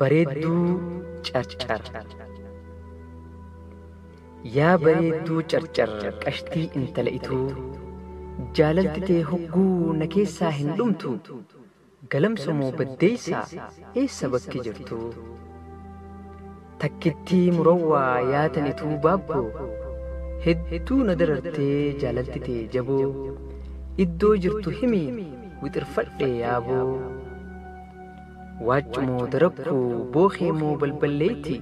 Bareedduu carcar Yaa bareedduu carcar qashtii intala ituu Jaalalti tee hogguu na keessaa hin dhumtuu Galamso moo baddeessaa eessa bakki jirtuu Takkittii murawwaa yaa tan ituu baabboo Hedduu na darartee jaalalti tee jaboo Iddoo jirtu himii wixirfadhee yaaboo. Waaccu moo darakku bookee moo balballeetti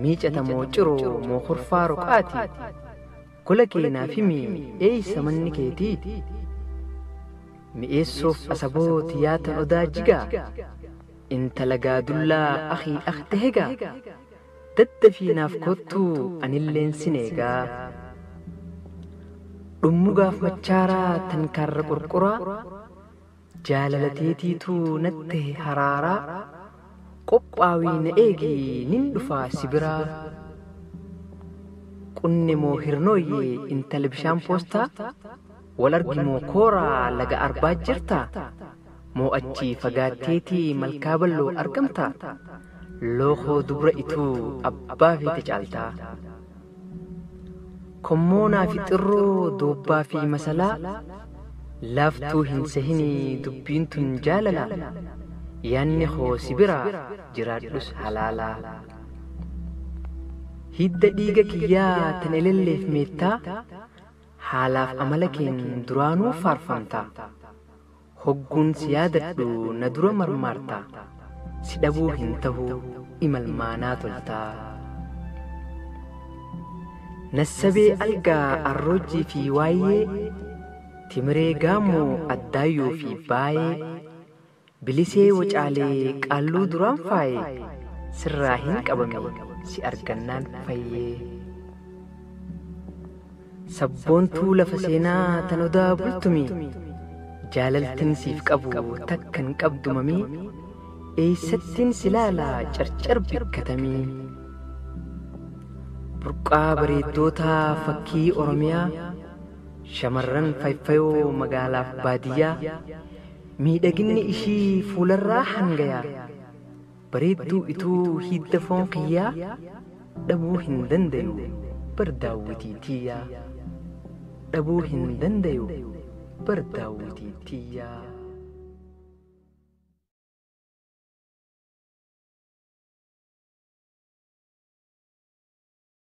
miicata moo ciroo moo kurfaa roqaati gola kee naaf himi eeysa manni keetii mi'eessuuf asaboot yaa tan odaa jigaa intala gaadullaa akii akte hegaa daddafii naaf koottuu anilleen sin eegaa dhummugaaf machaaraa tan kaarra qurquraa Jaalala teetiitu natti tahe haraaraa Qophaawii na eegi nin dhufaa si biraa Qunne moo hirnooyye intala bishaan poostaa Wal argi moo kooraa laga arbaa jirtaa Moo achii fagaatteeti malkaa balloo argamtaa Lookoo dubra ituu abbaa feete caaltaa. Kommoonaa fi xirroo doobbaa fi masalaa Laaftuu hin sehini dubbiin tun jaalala Yaanni koo si biraa jiraadhus halaala Hidda dhiiga kiyyaa tan elelleef meettaa Haalaaf amala keen duraanuu faarfamtaa Hogguun si yaadadhu na dura marmaarta Si dhabuu hin tahu imalmaanaa tolta Nassabee Algaa Arroojjii fi Waayyee Timiree Gaammoo Addaayyoo fi Baayee Bilisee Wocaalee Qaalluu duraan faaye Sirraa hin qabame si argannaan fayyee. Sabboontuu lafa seenaa tan odaa bultumii Jaalaltin siif qabu takka hin qabdu mamii Eeysattin si laala carcar bikkatamii Burqaa bareeddootaa fakkii Oromiyaa Shamarran fayfayoo magaalaaf baadiyyaa Miidhaginni ishii fuularraa hangayaa Bareedduu ituu hiidda foon kiyyaa Dhabuu hin dandayu bar daawwitii tiyyaa Dhabuu hin dandayu bar daawwitii tiyyaa.